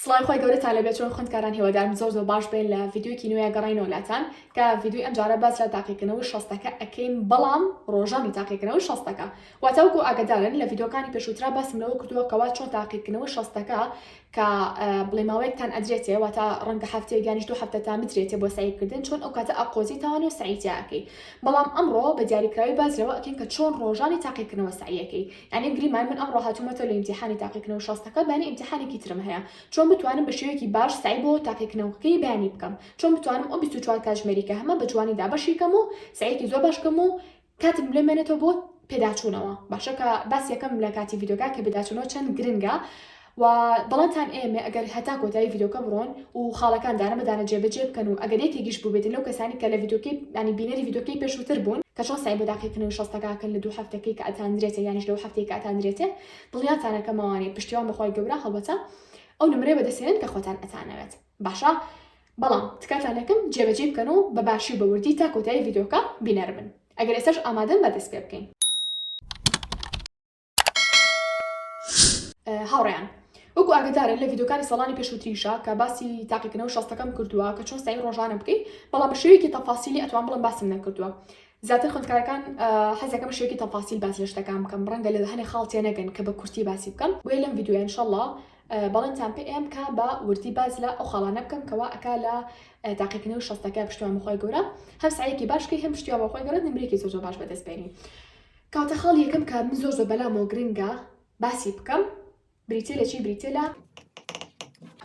سڵاوی خوای گەورەتان لەبێ چۆن خوندکاران هیوادارم زۆر زۆر باش بێ لە ڤیددیوکی نوێ گەڕینەوە لاتان کە ڤیددیوی ئەمجارە باس لە تاقیکردنەوەی شەستەکە ئەکەین بەڵام ڕۆژانی تاقیکردنەوەی شەستەکە واتاوکو ئاگدارن لە ڤیددیوکانی پێشووترا باسم لەوە کردووە کەوا چۆن تاقیکردنەوەی شەستەکە کە بڵێ ماوەیەکتان ئەدرێتێ واتە ڕەنگە هەفتەیە گیانیش دوو هەفتە تا بدرێتێ بۆ سعیکردن چۆن ئەو کاتە ئەقۆزی تاوانێ و سعیتیاکەی بەڵام ئەمڕۆ بە دیاریکراوی باز لەوە ئەکەین کە چۆن ڕۆژانی تاقیکردنەوە سعیەکەی ئەمین گریمان، من ئەمڕۆ هاتوومەتەوە لە ئیمتیحانی تاقیکردنەوە شەستەکە، بانی ئیمتیحانێکی ترم هەیە، چۆن بتوانم بە شێوەیەکی باش سەعی بۆ تاقیکردنەوەکەی بەیانی بکەم؟ چۆن بتوانم ئەو بیست و چوار کاتژمێری کە هەمە بە جوانی دابەشی کەم و سەعیەکی زۆر باش بکەم و کاتم لێ مێنێتەوە بۆ پێداچوونەوە؟ باشە کە باسی یەکەم لە کاتی ڤیدیۆکە کە پێداچوونەوە چەند گرنگە، وە دڵێتان ئێمە ئەگەر هەتا کۆتایی ڤیدۆکە بڕۆن و خاڵەکان دانە بە دانە جێ بە جێ بکەن و ئەگەر یەکێکیش بوبێتن لەو کەسانی کە لە ڤیدۆکەی یانی بینەری ڤیدۆکەی پێشوتر بون کە چۆن سەعی بۆ داقیکردنەوەی شەستەکە ئەکەن لە دوو هەفتەکەی کە ئەتاندرێتێ یانیش لەو هەفتەی کە ئەتاندرێتێ دڵنیاتان ئەکەم ئەوانەی پشتیوان بە خوای گەورە هەڵبەتە ئەو نمرەیە بە دەست هێنن کە خۆتان ئەتانەوێت باشە بەڵام تکاتان ئەکەم جێ بە جێی بکەن و بە باشی و بە وردی تا کۆتایی ڤیدۆکە بینەر بن ئەگەر ئێستاش ئامادەن با دەست پێ بکەین. هاوڕێیان وەکو ئاگدارن لە یددیوکانی ساڵانی پێشوتریشە کە باسی تاقیکردنەوە شەستەکەم کردووە کە چۆن سای ڕۆژانە بکەیت بەڵام بە شێوێکی تەفاسیلی ئەتوان بڵم باسم نەکردووە زیاتر خوندکارەکان حەزەکەم شێوکی تەفاسیل باز لە شتەکان بکەم ڕەنگە لە هەنێ خاڵتێ نەگەن کە بە کورتی باسی بکەم بۆیە لەم یددیوە انشاءله بەڵێنتان پێ ئێم کا بە وردی باز لە ئەو خاڵانە بکەم کەوا ئەک لە تاقیکنی و شەستەکە پشتیوان بخوای گەورە هەم سعەیەکی باشکەی هەم پشتیوان بەخوای گەورە نمرێکی زۆر زۆر باش بەدەست بێنی کاتە خاڵ یەکەم کە من زۆر زۆر بەلامەوە گرنگە باسی بکەم بریتە لە چی بریتە لە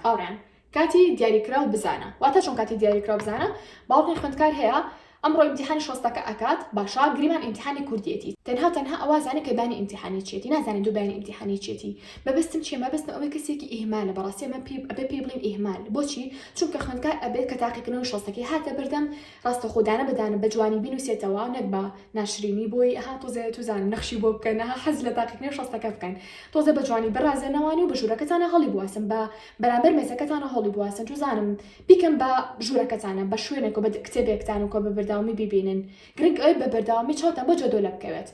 هاوڕیان کاتی دیاریکراو بزانە واتە چۆن کاتی دیاریکراو بزانە باوەڕی خوندکار هەیە ئەمڕۆ ئیمتحانی شۆستەکە ئەکات باشە گریمان ئیمتحانی کوردیەتی تەنها تەنها ئەوازانە کە بانی ئیمتحانی چێتی نازانێت دوو بانی ئیمتحانی چێتی مەبەستم چیە مەبەستم ئەوەی کەسێکی ئیهمالە بەڕاستی ئەمە پێ ئەبێ پێی بڵین ئیهمال بۆچی چونکە خوێندکار ئەبێت کە تاقیکردنەوەی شۆستەکەی هاتە بەردەم ڕاستە خۆ دانە بە دانە بە جوانی بینوسێتەوە نەک بە ناشرینی بۆی ئەها تۆزێ توزانن نەخشی بۆ بکەن ئەها حەز لە تاقیکرنی شەستەکە بکەن تۆزێ بە جوانی برازێنەوانی و بە ژورەکەتانا هەڵی بواسن بە بەرامبەر مێزەکەتانا هەڵی بواسن توزانم بیکەن بە ژورەکەتانا بە شوێنێک و بە کتێبێکتان و کۆ بە بەرداومی بیبینن گرنگ ئەوەی بە بەرداومی چاوتان بۆ جەدۆلە بکەوێت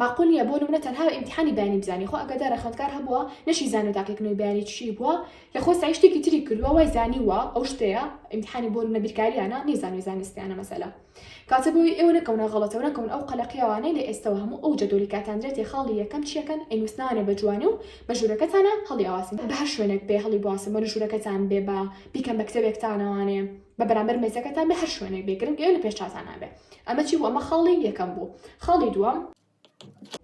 ماقول نیە بۆ نمونە تەنها بە ئیمتیحانی بیانی بزانی خۆ ئەگەر دارە خوێندکار هەبووە نەشی زانیوە تاکێک نۆی بیانی چی بووە یا خۆ سەعی شتێکی تری کردووە وای زانیووە ئەو شتەیە ئیمتیحانی بۆ نمونە بیرکاریانە نەیزانیوە زانستیانە مەسەلە کاتە بۆی ئێوە نەکەونە غەڵەتەو نەکەون ئەو قەلەقیاوانەی لە ئێستەوە هەموو ئەو جەدۆلی کاتاندرێتێ خاڵی یەکەم چیەکەن ئەینوسنانێ بە جوانی و بە ژورەکەتانا هەڵی ئەواسن بە هەر شوێنێک بێ هەڵی بواسن بۆ نە ژورەکەتان بێ با بیکەن بە کتێبێکتانەوانێ بە بەرامبەر مێزەکەتان بێ هەر شوێنێک بێ گرنگ ئێوە لە پێش چاتانا بێ ئەمە چی بوو؟ ئەمە خاڵی یەکەم بوو. خاڵی دووەم.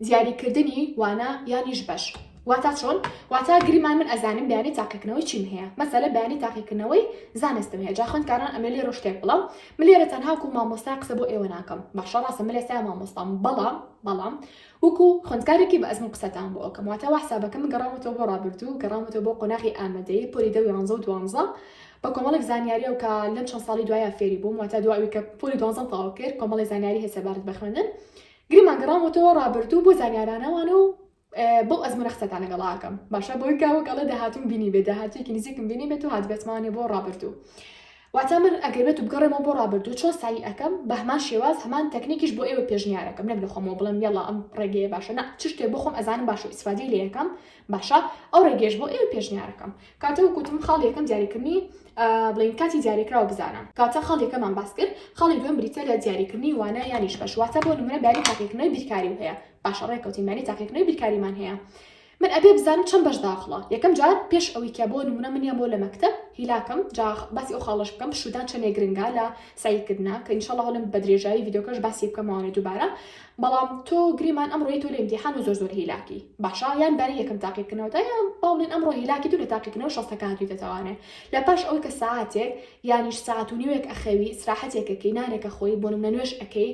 دیاریکردنی وانە یانیش بەش. واتا چۆن؟ واتا گریمان من ئەزانم بەیانی تاقیکردنەوەی چیم هەیە. مەسەلەن بەیانی تاقیکردنەوەی زانستم هەیە. جا خوێندکاران ئەمەی لێرۆ شتێک بڵێم، من لێرە تەنها وەکو مامۆستا قسە بۆ ئێوە ناکەم. باشە ڕاستە من ئێستا مامۆستام، بەڵام، بەڵام وەکو خوێندکارێکی بەئەزموون قسەتان بۆ ئەکەم. واتا وا حسابەکەم من گەڕاومەتەوە بۆ ڕابردوو، گەڕاومەتەوە بۆ قۆناغی ئامادەیی، پۆلی دە و یانزە و دوانزە، بە کۆمەڵێک زانیاریەو کە لەم چەند ساڵی دوایە فێری بووم واتە دوا ئەوی کە پۆلی دوانزەم تەواو کرد کۆمەڵی زانیاری هەیە سەبارەت بە خوێندن گریمان گەڕامەوەتەوە ڕابردوو بۆ زانیارانەوانە و بەو ئەزمونە قسەتان لەگەڵاکەم باشە بۆی کاوە گەڵێ داهاتون بینی بێت داهاتێکی نزیکم بینی بێت و هاتبێتمانێ بۆ ڕابردوو واتە من ئەگەر بێت و بگەڕێمەوە بۆ ڕابردوو چۆن سایی ئەەکەم بە هەمان شێواز هەمان تەکنیکیش بۆ ئێوە پێشنیارەکەم نەک لە خۆمەوە بڵێم یاڵا ئەم ڕێگەیە باشە نە چ شتێ بۆ خۆم ئەزانم باشە ئیسفادەی لە یەکەم باشە ئەو ڕێگەیەش بۆ ئێوە پێشنیارەکەم کاتە وەکو وتم خاڵی یەکەم دیاریکردنی ئا بڵێین کاتی دیاریکراو بزانە کاتە خاڵ یەکەمان باس کرد خاڵی دووەم بریتییە لە دیاریکردنی وانە یانیش بەش واتە بۆ نمونە بیانی تاقیکردنەوەی بیرکاریو هەیە باشە ڕێککەوتین بیانی تاقیکردنەوەی بیرکاریمان هەیە من ئەبێ بزانم چەند بەش داخڵە یەکەم جار پێش ئەوەی کە بۆ نمونە من یان بۆ لە مەکتەب هیلاکم جا خ باسی ئەو خاڵەش بکەم پشوودان چەندێک گرنگە لە سەعیکردنا کە ان شاء اللە هەولم بە درێژایی ڤیدیۆکەش باسی بکەمەوە دووبارە بەڵام تۆ گریمان ئەمڕۆی تۆ لێم دی حانە زۆر زۆر هیلاکی باشە یان بارە یەکەم تاقی بکەنەوە تا یان باڵێن ئەمڕۆ هیلاکی دوو لە تاقیکردنەوە شەستەکە هاتووی دەتوانێت لە پاش ئەوەی کە ساعتێک یانیش ساعت و نیوێک ئەخەوی سراحەتێکەکەی نانێکە خۆی بۆ نمونە نوێش ئەەکەی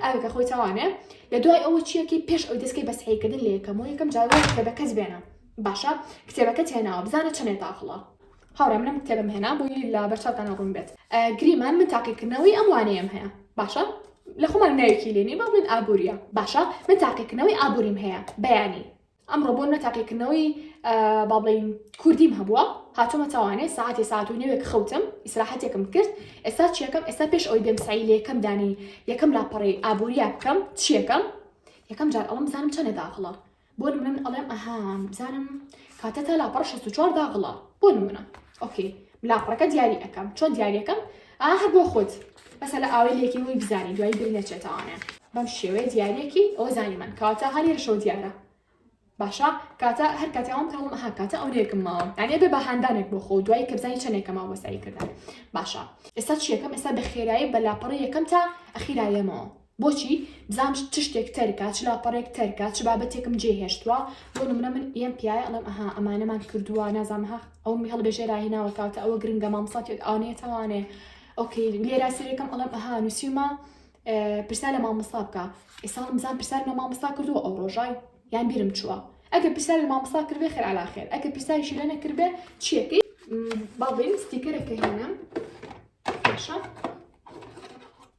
ئاوێکە خۆی توانێ لە دوای ئەوە چیەکەی پێش ئەو دەستکەی بەسحیکردن لە یەکەم و یەکەم جاوە کتێبەکەس بێنە باشە کتێبەکە تێناوە بزانە چەندێ تاخڵە هاوڕێ منم کتێبم هێنا بۆیی لە بەر چاوتانا ڕوون بێت گریمان من تاقیکردنەوەی ئەم وانەیەم هەیە باشە لە خۆمان ناوێکی لێنی بە بڵێن ئابوووریە باشە من تاقیکردنەوەی ئابووریم هەیە بەیانی ئەمڕۆ بۆ نە تاقیکردنەوەی با بڵین کوردیم هەبووە هاتومە تاوانێ ساعتی ساعت و نوێک خەوتم ئیسراحەتێکم کرد ئێستا چیەکەم ئێستا پێش ئەوی بێم سعی لە یەکەم دانی یەکەم لاپەڕی ئابووریە بکەم چیەکەم یەکەم جار ئەڵم بزانم چەنە داخڵە بۆ نمونە من ئەڵێم ئەها بزانم کاتە تا لاپەڕە 64 داغڵە بۆ نمونە ئۆکەی لاپەڕەکە دیاری ئەەکەم چۆن دیاریەکەم ئاهر بۆ خۆت بەسە لە ئاوی لێکی وی بزانین دوای بیر نەچێتەوانە بەم شێوەیە دیارەکی ئەو زانی من کاتە هەنێر شەو دیارە باشە کاتە هەر کاتیاوام کەڵم ئەها کاتە ئەو نێکم ماوە یانێ بێ بە هاندانێک بۆ خۆ دوای کە بزانانی چەندێکە ماوە بەسەری کردن باشە ئێستا چیەکەم ئێستا بە خێرایی بە لاپەڕی یەکەم تا ئەخیرایەمەوە بۆچی؟ بزانم چ شتێک تەرکە، چ لاپەڕەیەک تەرکە، چ بابەتێکم جێهێشتووە، بۆ نموونە من یەم پیایە ئەڵێم ئەها ئەمانەمان کردووە، نازانم ئەها ئەوەمی هەڵبێژێ راهێناوە کاتە، ئەوە گرنگە مامۆستا تێت ئەوانەیە تاوانێ ئۆکەی لێرا سەیرەکەم ئەڵێم ئەها نووسیومە پرسیار لە مامۆستا بکە، ئێستا هەڵم بزانم پرسیارم لە مامۆستا کردووە ئەو ڕۆژەی یان بیرم چووە، ئەگەر پرسیار لە مامۆستا کردبێ خێر عەلا خێر، ئەگەر پرسیاریشی لێ نەکردبێ چییەکەی؟ با بڵێین ستیکەرەکە هێنام باشە.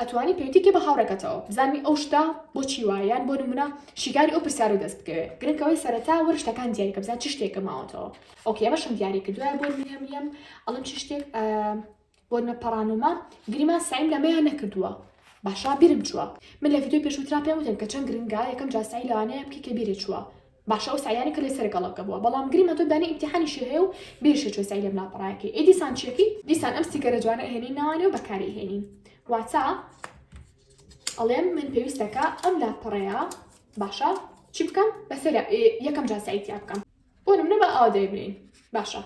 ئەتوانی پێوتی کەی بە هاوڕێکەتەوە بزانوی ئەو شتە بۆچی وایە یان بۆ نمونە شیکاری ئەو پرسیارە دەست بکەوێ گرنگ ئەوەی سەرەتا وەرە شتەکان دیاری کە بزان چ شتێکە ماوەتەوە ئۆکەی ئەمەشم دیاری کردوە بۆ نمونە میم ئەڵم چ شتێک بۆ نە پەڕانۆما گریمان سعیم لەمەیان نەکردووە باشا بیرم چووە من لە ڤیدیۆی پێشوترا پێم وتن کە چەند گرنگە یەکەم جاسایی لەوانەیە بکە کە بیرت چووە باشە ئەو سەعیانە کە لێ سەر گەڵەکە بووە بەڵام گری مەتۆ دانی ئیمتیحانیشی هەیە و بێ شێچۆ سەعی لەم لاپەڕایە کەی ئەی دیسان چیەکەی؟ دیسان ئەم ستیکەرە جوانە ئەهێنین ناوانێ و بەکاری ئەهێنین واتە ئەڵێم من پێویستە کە ئەم لاپەڕەیە باشە چی بکەم بەسەر یەکەم جار سەعی تیا بکەم بۆ نمونە با ئاوا دەی بنێین باشە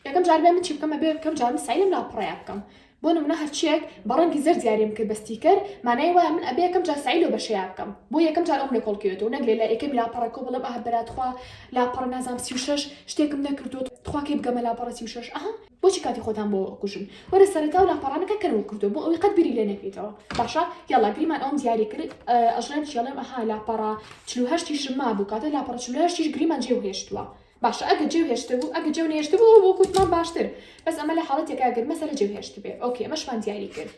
یەکەم جار بێ من چی بکەم بێ بکەم جار من سعی لەم لاپەڕەیە بکەم بۆ نمونە هەرچیەک بە ڕەنگی زەر دیاریم کرد بە ستیکەر مانای وایە من ئەبێ یەکەم جار سعی لەو بەشەیە بکەم بۆ یەکەم جار ئەم لە کۆڵکەوێتەوە نەگرێ لە یەکەم لاپەڕە کۆ بڵم ئەه بەراتخوا لاپەڕ نازام سی و شش شتێکم نەکردو تخواکەی بگەمە لاپەڕە سی و شش ئەها بۆچی کاتی خۆتان بۆ کوژن وەرە سەرەتا و لاپەڕانەکە کەرەوە کردو بۆ ئەوی قەت بیری لێ نەکەیتەوە باشە یاڵا گریمان ئەوم دیاری کرد ئەژنان چێڵێم ئەها لاپەڕە چلوهشتیشم مابوو کاتە لاپەڕە چلوهشتیش گریمان جێ هێشتووە باشە ئەگە جێو هێشتبوو ئەگە جێو نێشتبوو ئەو بۆ کوتمان باشتر بەس ئەمە لە حاڵەتێکا گەر مەسەلە جێو هێشت بێ ئۆکێ مەشمان دیاری کرد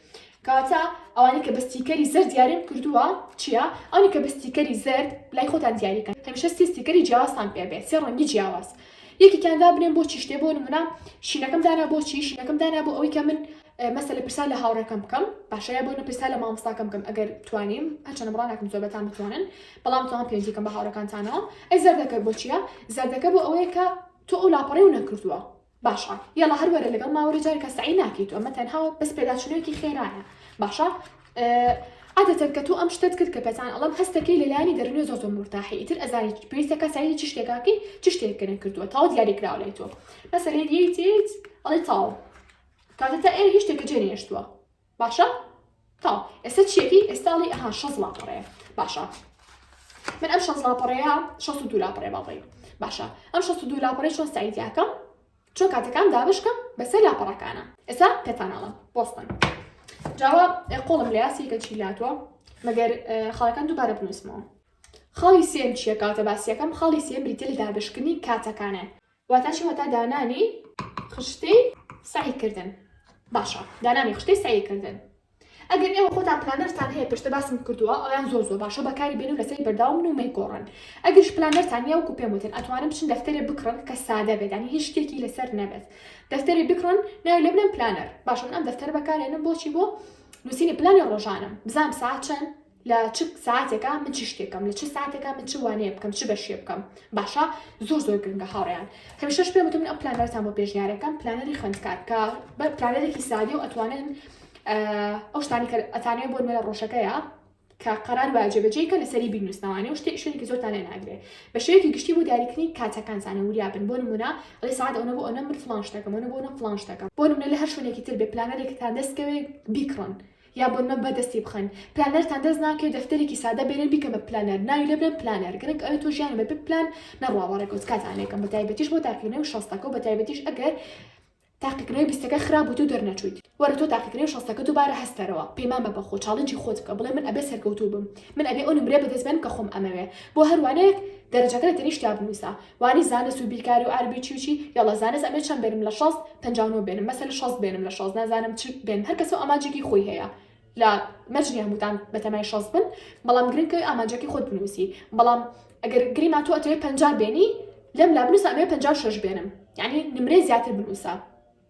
کاتە ئەوانی کە بەستیکەری زەر دیاریم کردووە چییە ئەوانی کە بەستیکەری زەر لای خۆتان دیاریکە هەمیشە سیستیکەری جیاوازتان پێ بێت سێ ڕەنگی جیاواز یەکیان دا بنێن بۆ چیشتێ بۆ نمونە شینەکەم دانا بۆ چی شینەکەم دانا بۆ ئەوی کە من مەسەلە پرسیار لە هاوڕێکەم بکەم باشە یا بۆنە پرسیار لە مامۆستاکەم بکەم ئەگەر توانیم هەرچەنە بڕا ناکەم زۆربەتان بتوانن بەڵام توان پێنجیکەم بە هاوڕەکانتانەوە ئەی زەردەکە بۆ چییە زەردەکە بۆ ئەوەیە کە تۆ ئەو لاپەڕی و نەکردووە باشە یاڵە هەروەرە لەگەڵ ماوەری جارکە سعی ناکەیت تۆ ئەمە تەنها بەس پێداچونێکی خێرایە باشە عادەتەن کە تۆ ئەم شتت کرد کە پێتان ئەڵم هەستەکەی لەلایانی دەرنێ زۆ زۆر مرتاحی ئیتر ئەزانیت پێویستەکە سعی چ شتێکاکەی چ شتێکەکە کردووە تاو دیاریکراوە لای تۆ مەسەرێت یەیت ئەڵی تاو کاکە تا ئێوە هیچ تێکە جێ نەهێشتووە باشە تاو ئێستا چیەکەی ئێستا ئەڵی ئەها شەز لاپەڕەیە باشە من ئەم شەز لاپەڕەیە شەست و دوو لاپەڕێ باڵی باشە ئەم شەست و دوو لاپەڕی چۆن سایتیاکەم چۆن کاتەکان دابشکەم بەسەر لاپەڕەکانە ئێستا پێتانناڵم بۆستن جاوە قۆڵم لە یاسیکە چی لاتوە مەگەر خاڵەکان دووبارە بنووسمەوە خاڵی سێم چیە کاتە باسیەکەم خاڵی سێم بریتە لە دابشکنی کاتەکانە واتا چی واتا دانانی خشتەی سەعی کردن باشە دانانی خشتەی سەعی کردن ئەگەر ئێوە خۆتان پلانەرتان هەیە پێشتە باسم کردووە ئەویان زۆر زۆر باشە بەکاری بێن و لەسەری بەرداوم و مەیگۆڕن ئەگەش پلانەرتان یا وکو پێم وتن ئەتوانم بچن دەفتەرێ بکڕن کە سادە بێدانی هیچ شتێکی لەسەر نەبێت دەفتەری بکڕن ناوی لە بنەم پلانەر باشم ئەم دەفتەر بەکارێنم بۆچی بۆ نووسینی پلانی ڕۆژانم بزانام ساعت چەند لە چ ساتێکا من چ شتێکەم لە چ ساتێکا من چ وانەیە بکەم چ بەشێ بکەم باشە زۆر زۆر گرنگە هاوڕیان هەمیشەش پێ وتم ئەم پلانەرتان بۆ پێشنیارەکەم پلانەری خوێندکار کە بە پلانەرێکی سادی و ئەتوانن ئەو شتانی کە ئەتانێ بۆ نوێ ڕۆژەکەیە کە قەرار وایە جێبەجێی کە لەسەری بینوسناوانێ و شتێ شوێنێکی زۆرتان لێ ناگرێ بە شێوەیەکی گشتی بۆ دیاریکردنی کاتەکان زانە وریا بن بۆ نمونە ئەڵێ ساعت ئەوە بۆ ئەوە من فلان شتەکەم ئەوە بۆ ئەوە فلان شتەکەم بۆ نمونە لە هەر شوێنێکی تر بێ پلانەرێکتان دەستکەوێ بیکڕن یا بنمە بە دەستی بخەن پلانەرتان دەست ناکەوێت دەفتەرێکی سادە بێنن بیکەن بە پلانەر ناوی لێ بدەن پلانەر گرنگ ئەوێ تۆ ژیانت بە بێ پلان نەڕوا وە ڕێکەوت کاتان لێ کەم بە تایبەتیش بۆ تاقیکردنەوەی شەستەکە و بە تایبەتیش ئەگەر تاقیکردنەوەی بیستەکە خراپ بوویت و دەرنەچوویت وەرە تۆ تاقیکردنەوەی شەستەکە دووبارە هەستەرەوە پەیمان بە بەخۆت چاڵنجی خۆت بکە بڵێ من ئەبێ سەرکەوتوو بم من ئەبێ ئەو نمرەیە بە دەست بێنم کە خۆم ئەمەوێ بۆ هەر وانەیەک دەرەجەکە لە تەنیشتیا بنووسە وانی زانست و بیرکاری و عەرەبی چی و چی یەڵا زانست ئەبێ چەند بێنم لە شەست پەنجا و نۆ بێنم مەسەلە شەست بێنم لە شەست نازانم چل بێنم هەر کەسەو ئامانجێکی خۆی هەیە لە مەرج نیە هەمووتان بەتەمای شەست بن بەڵام گرنگ ئەوی ئامانجەکەی خۆت بنووسی بەڵام ئەگەر گریمان تۆ ئەتەوێ پەنجا بێنی لەم لا بنووسە ئەمەوێ پەنجا و شەش بێنم یانی نمرەی زیاتر بنووسە.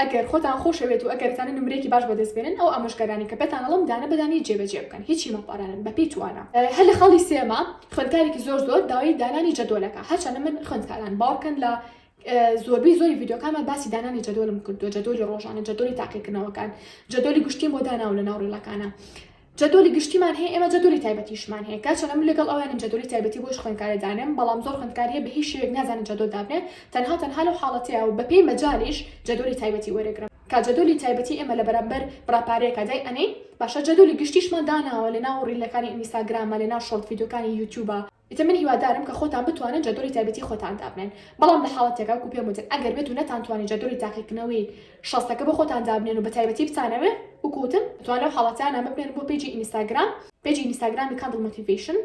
ئەگەر خۆتان خۆشەوێت و ئەگەر ئەتانە نمرەیەکی باش بەدەست بێنن ئەو ئامۆژگاریانەی کە پێتان ئەڵێم دانە بە دانەی جێبەجێ بکەن هیچی مەپارانن بەپێی توانا. هەر لە خاڵی سێما خوێندکارێکی زۆر زۆر داوای دانانی جەدۆل ئەکا هەرچەندە من خوێندکاران باوەڕکەن لە زۆربەی زۆری ڤیدیۆکانما باسی دانانی جەدۆلم کردووە جەدۆلی ڕۆژانە جەدۆلی تاقیکردنەوەکان جەدۆلی گشتیم بۆ داناوە لەناو ڕیڵەکانا جەدۆلی گشتیمان هەیە ئێمە جەدۆلی تایبەتیشمان هەیە کاک چەنە من لەگەڵ ئەوەیانم جەدۆلی تایبەتی بۆش خوێندکارێ دانێم بەڵام زۆر خوێندکار هەیە بە هیچ شێوەیەک نازانێ جەدۆل دابنێ تەنها تەنها لەو حاڵەتەیا و بەپێی مەجالیش جەدۆلی تایبەتی وەرەگرن کە جەدۆلی تایبەتی ئێمە لە بەرامبەر بڕاپارەیەکا دای ئەنێین باشە جەدۆلی گشتیشمان داناوە لەناو ڕیلەکانی ئینیستاگرامە لەناو شۆرت ڤیدیۆکانی یوتیوبە ئیتر من هیوادارم کە خۆتان بتوانن جەدۆلی تایبەتی خۆتان دابنێن بەڵام لە حاڵەتێکا وەکو پێم وتن ئەگەر بێت و نەتانتوانی جەدۆلی تاقیکردنەوەی شەستەکە بۆ خۆتان دابنێن و بە تایبەتی بتانەوێ وەکو وتم ئەتوان لەو حاڵەتانە ببنێن بۆ پەیجی ئینیستاگرام پەیجی ئینیستاگرامی کاندڵ مۆتیڤەیشن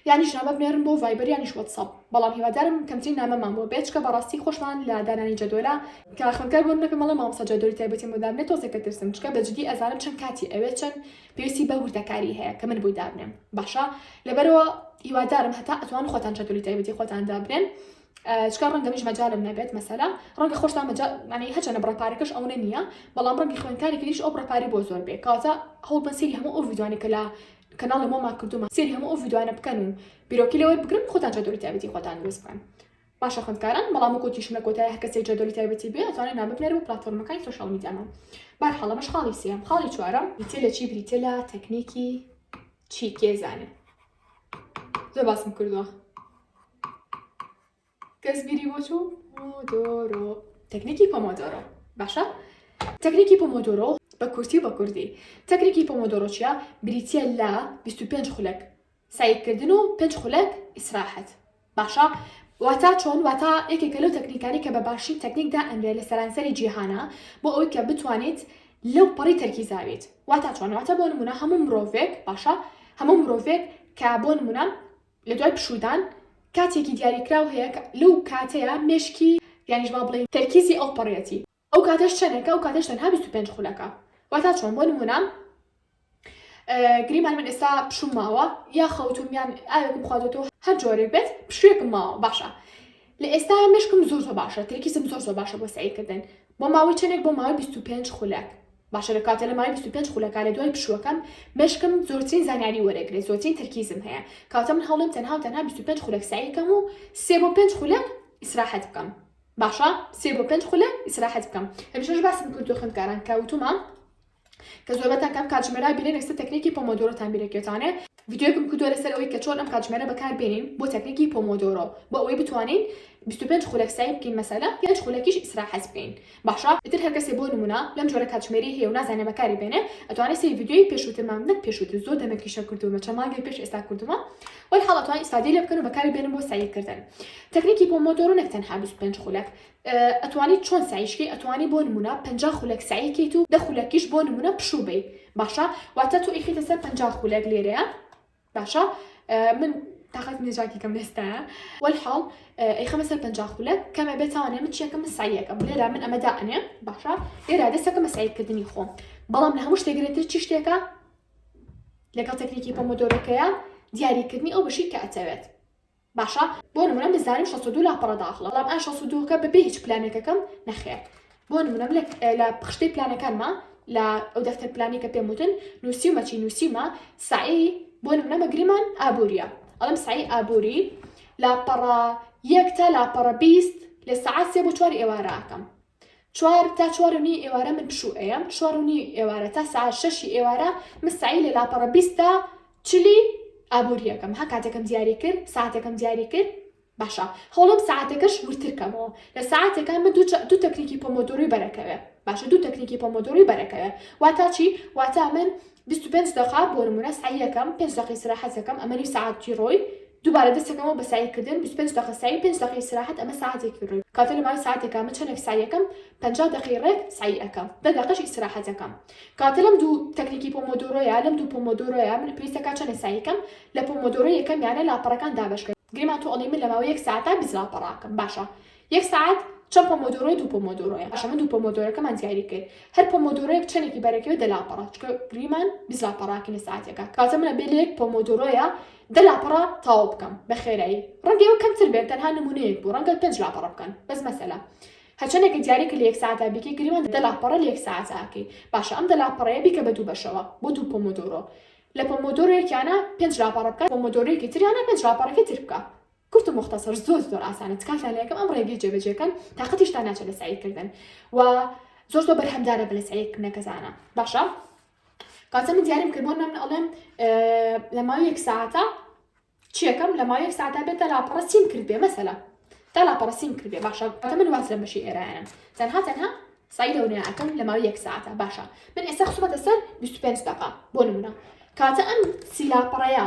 یانیش نامە بنێرن بۆ ڤایبەر یانیش وەتسەپ بەڵام هیوادارم کەمترین نامەمان بۆ بێت چکە بەڕاستی خۆشمان لە دانانی جەدۆلە کە خوێندکار بۆ نەکەم مەڵێ مامۆستا جەدۆلی تایبەتیم بۆ دابنێ تۆزێک ئەترسم چکە بەجدی ئەزانم چەند کاتی ئەوێ چەند پێویستی بە وردەکاری هەیە کە من بۆی دابنێم باشە لەبەرەوە هیوادارم هەتا ئەتوان خۆتان چەتولی تایبەتی خۆتان دابنێن چکار ڕەنگە میش مەجارم نەبێت مەسەلا ڕەنگە خۆشتا مەجانی هەچەنە بڕپارەکەش ئەوە نییە بەڵام ڕەنگی خوێنکاری کلیش ئەو بڕپاری بۆ زۆر بێ کاتە هەوڵ بە سری هەموو ئەو ویدوانی کە لە کەناڵی مۆما کردومە سری هەموو ئەو ویدوانە بکەن و بیرۆکی لەوەی بگرن خۆتان چەتولی تایبەتی خۆتان دروست بکەن باشە خوێندکاران بەڵام وەکو وتیشم لە کۆتای هەرکەسێک جەدۆلی تایبەتی بێ ئەتوانێ نامە بنێرە بۆ پلاتفۆرمەکانی سۆشیال میدیامە بارحاڵ ئەمەش خاڵی سێم خاڵی چوارەم بریتە لە چی بریتە لە تەکنیکی چی کێ زانێ زۆر باسم کردووە کەس بیری بۆ چوو مۆدۆرۆ تەکنیکی پۆمۆدۆرۆ باشە تەکنیکی پۆمۆدۆرۆ بە کورتی بە کوردی تەکنیکی پۆمۆدۆرۆچیا بریتە لە 25 خولەک سەیر کردن و پێنج خولەک ئیسراحەت باشە واتا چۆن واتا یەکێکە لەو تەکنیکانی کە بە باشترین تەکنیک دائەنرێ لە سەرانسەری جیهانا بۆ ئەوەی کە بتوانیت لەو پەڕی تەرکیزاویت واتا چۆن واتا بۆ نمونە هەموو مرۆڤێک باشە هەموو مرۆڤێک کە بۆ نمونە لە دوای پشودان کاتێکی دیاریکراو هەیە لەو کاتەیە مێشکی یانیش با بڵێین تەرکیزی ئەو پەڕیەتی ئەو کاتەش چەنێکە؟ ئەو کاتەش تەنها بیست و پێنج خولەکە واتا چۆن بۆ نمونە گریمان من ئێستا پشوم ماوە یا خەوتوم یان ئاوێکم خواردەوە هەر جۆرێک بێت پشوێکم ماوە باشە لە ئێستا مشکم زۆر زۆر باشە ترکیزم زۆر زۆر باشە بۆ سعیکردن بۆ ماوەی چەندێک بۆ ماوەی 25 خولەک باشە لە کاتە لە ماوەی 25 خولەکە لە دوای پشوەکەم مشکم زۆرترین زانیاری وەرەگرێ زۆرترین ترکیزم هەیە کاتە من هەڵم تەنها و تەنها 25 خولەک سعیکەم و سێ بۆ پێنج خولەک ئیسراحەت بکەم باشە سێ بۆ پێنج خولە ئیسراحەت بکەم هەمیشەش باسم کردو خوێندکاران کە وتومان کە زۆربەتان کەم کاتژمێرا بینێن ئێستا تەکنیکی پۆمۆدۆرۆتان بیرەکێتانێ ڤیدیۆیەکم کردووە لەسەر ئەوەی کە چۆن ئەم کاتژمێرە بەکار بێنین بۆ تەکنیکی پۆمۆدۆرۆ بۆ ئەوەی بتوانین 25 خولەک سەعی بکەین مەسەلە پێنج خولەکیش ئیسراحەت بکەین باشە ئیتر هەر کەسێ بۆ نمونە لەم جۆرە کاتژمێری هەیە و نازانێ بەکاری بێنێ ئەتوانێ سەیری ڤیدیۆی پێشووترمان نەک پێشووتر زۆر دەمێکی شەو کردوومە چەند مانگێ پێش ئێستا کردوومە وەی حاڵە توانی ئیستادەی لێ بکەن و بەکاری بێنن بۆ سەعی کردن تەکنیکی پۆمۆدۆرۆ نەک تەنها 25 خولەک ئەتوانی چۆن سعیشکی ئەتوانی بۆ نمونە پنج خولەک سعیکەیت و دە خولەکیش بۆ نمونە پشوو بی باشە واتە تۆ ئیخیتە سەر پنج خولەک لێرەیە باشە من تاقەت نێژاکی کەم لێستا وەلحاڵ ئەیخەمە سەر پنج خولە کەمە بێتوانێ من چێکەکەم سایەکەم لێرا من ئەمەدا ئەنێ باشە لێرا دەستەکە مەسایکردنی خۆم بەڵام لە هەموو شتێگرێتتر چی شتێکە لەگەڵ تەکنیکی پۆمۆدۆرۆکەیە دیاری کردنی ئەو بەشی کە ئەتەوێت باشە بۆ نمونە بزانم 62 لاپەڕە داخڵە بەڵام ئا 62کە بەبێ هیچ پلانێکەکەم نەخێر بۆ نمونەم لە پخشتەی پلانەکانمە لە ئەو دەفتەر پلانی کە پێم وتن نووسیمە چی نووسیمە سعی بۆ نمونە مەگریمان ئابووریە ئەڵم سعی ئابووری لاپەڕە یەک تا لاپەڕە بیست لە سعات سێ بۆ چواری ئێوارەکەم چوار تا چوار و نیوی ئێوارە من پشوو ئەیەم چوار و نیوی ئێوارە تا سەعات شەشی ئێوارە من سەعی لە لاپەڕە بیست تا چلی ئابووری ئەکەم ها کاتێکم دیاری کرد ساعتێکم دیاری کرد باشە هەوڵم ساعتەکەش وردتر کەمەوە لە ساعتێکە من دوو تەکنیکی پۆمۆدۆری بەرەکەوێ باشە دوو تەکنیکی پۆمۆدۆری بەرەکەوێ واتا چی واتا من بیست و پێنج دەقە بۆ نمونە سەعی ئەکەم پێنج دەقە ئیسراحەت ئەکەم ئەمە نیو سەعاتی ڕۆی دوبارە دەست ئەکەمەوە بە سەعی کردن بیست و پێنج دەقە سەعی پێنج دەقە ئیسراحەت ئەمە سەعاتێکی ڕۆی کاتە لە ماوەی سەعاتێکا من چەنێک سەعی ئەکەم پەنجا دەقەی ڕێک سەعی ئەکەم دە دەقەش ئیسراحەت ئەکەم کاتە لەم دوو تەکنیکی پۆمۆدۆرۆیە لەم دوو پۆمۆدۆرۆیە من پێویستە کات چەنێک سەعی ئەکەم لە پۆمۆدۆرۆ یەکەمیانە لاپەڕەکان دابەش کە گریمان تۆ ئەڵێی من لە ماوەی یەک سەعاتا بیست لاپەڕە ئەکەم باشە یەک سەعات چەند پۆمۆدۆرۆی دوو پۆمۆدۆرۆیە باشە من دوو پۆمۆدۆرەکەمان دیاری کرد هەر پۆمۆدۆرۆیەک چەندێکی بەرەکەوێت دە لاپەڕە چکە گریمان بیست لاپەڕاکەی لە سەعاتێکە کاتە منە بێ لە یەک پۆمۆدۆرۆیە دە لاپەڕە تەواو بکەم بە خێرایی ڕەنگە ئەوە کەمتر بێت تەنها نمونەیەک بوو ڕەنگە پێنج لاپەڕە بکەن بەس مەسەلە هەچەندێک کە دیارێکە لە یەک سەعاتا بیکەی گریمان دە لاپەڕە لە یەک سەعاتا ئەکەی باشە ئەم دە لاپەڕەیە بیکە بە دوو بەشەوە بۆ دوو پۆمۆدۆرۆ لە پۆمۆدۆرۆیەکیانە پێنج لاپەڕە بکە پۆمۆدۆرۆیەکی تریانە پێنج لاپەڕەکەی تر بکە کورت و موختەسەر زۆر زۆر ئاسانە تکاتان لەکەم ئەم ڕێگەی جێبەجێکەن تااقەتیشتان ناچێت لە سعیکردن و زۆر زۆر بەرهەمدارە بە لە سعیکردنە کەزانە باشە کاتە من دیاریم کردبوون من ئەڵێم لە ماوی یەک ساعتە چیەکەم لە ماوی یەک ساعتا بێتە لاپەڕە سیم کرد بێ مەسەلا تا لاپەڕە سیم کرد بێ باشە ئەتە من واز لە بەشی ئێرانن تەنها تەنها سای لەونەیە ئەکەم لە ماوی یەک ساعتە باشە من ئێستا خسومەتە سەر 25 دقا بۆ نمونە کاتە ئەم سیلاپەڕەیە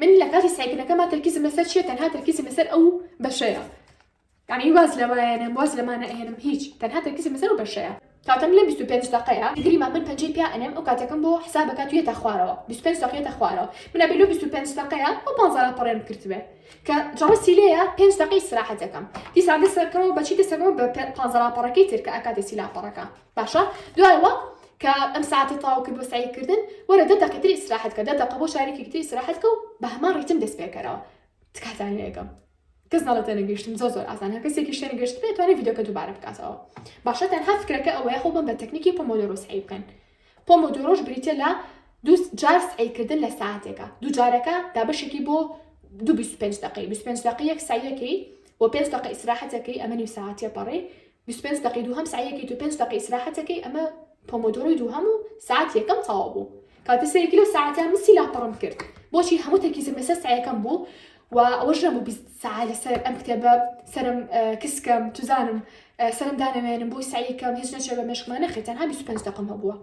من لە کاتی سەعیکردنەکەما تەرکیزم لەسەر چیە تەنها تەرکیزم لەسەر ئەو بەشەیە یعنی واز لەوایەنم واز لەمانە ئەهێنم هیچ تەنها تەرکیزم لەسەر ئەو بەشەیە کاتەم لە بیست و پێنج دەقەیە گریمان من پەنجەی پیا ئەنێم ئەو کاتەکەم بۆ حساب ئەکات و یەتە خوارەوە بیست و پێنج دەقە یەتە خوارەوە من ئەبێ لەو بیست و پێنج دەقەیە ئەو پانزە لاپەڕەیەم کردبێ کە جەڵەسی لێیە پێنج دەقەی ئیستراحەت دەکەم دیسان دەست ئەکەمەوە بە چی دەست ئەکەمەوە بە پانزە لاپەڕەکەی تر کە ئەکاتێ سی لاپەڕەکە باشە دوایەوە کە ئەم ساعتە تاو کرد بۆ سعی کردن وەرە دە دەقەتر ئیسراحەت کە دە دەقە بۆ شارێکی تر ئیسراحەت کە و بە هەمان ڕیتم دەست پێکەرەوە تکاتان لەگەم کەس ناڵێت نەگەشتم زۆر زۆر ئازان هە کەسێکی شوێن گەشت بێت توانێت یددیوکە دووبارە بکاتەوە باشە تەنها فکرەکە ئەوەیە خۆ بم بە تەکنیکی پۆمۆدۆرۆس عی بکەن پۆمۆدۆرۆش بریتە لە دوو جار سعیکردن لە ساعتێکە دوو جارەکە دابشێکی بۆ دو 25 دقی 25 دقی یەک سایەکەی و پێنج دقی ئیسراحەتەکەی ئەمەنی ساعتە پەڕی بیست و پێنج دەقەی دووهەم سەعیەکەیت و پێنج دەقەی ئیسراحەتەکەی ئەمە پۆمۆدۆرۆی دووهەم و سەعات یەکەم تەواو بوو کاتە سەیەکی لەو سەعاتە مسی لاپەڕم کرد بۆچی هەموو تەرکیزم لەسەر سەعیەکەم بوو و ئەوەش نەبوو بیست سەعە لەسەر ئەم کتێبە سەرم کسکەم توزانم سەرم دانەوێنم بۆی سەعیکەم هیچ نەچێ بە مێشکمان نەخێت تەنها بیست و پێنج دەقەم هەبووە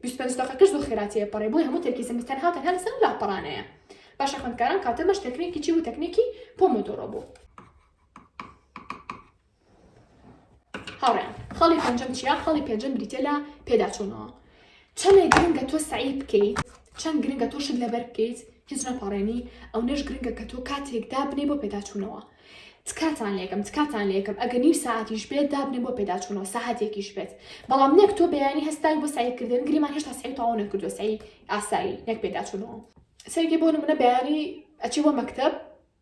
بیست و پێنج دەقەکەش زۆر خێراتەیە پەڕێ بۆی هەموو تەرکیزم تەنها تەنها لەسەر ئەم لاپەڕانەیە باشە خوێندکاران کاتەمەش تەکنێکی چی بوو تەکنێکی پۆمۆدۆرۆ بوو هاوڕێیان خاڵی پێنجەم چیا خاڵی پێنجەم بریتە لە پێداچوونەوە چەندێک گرنگە تۆ سعی بکەیت چەند گرنگە تۆ شت لەبەر بکەیت هیچ نەپاڕێنی ئەو نەش گرنگە کە تۆ کاتێک دابنێ بۆ پێداچوونەوە تکاتان لەکەم تکاتان لەکەم ئەگە نیو ساعتیش بێت دابنێ بۆ پێداچوونەوە ساحاتێکیش بێت بەڵام نەک تۆ بەیانی هەستای بۆ سعیکردن گریمان هێشتا سعی تاوا نەکردو سعی ئاسایی نەک پێداچوونەوە سەرگی بۆ منە بەیانی ئەچی بۆ مەکتب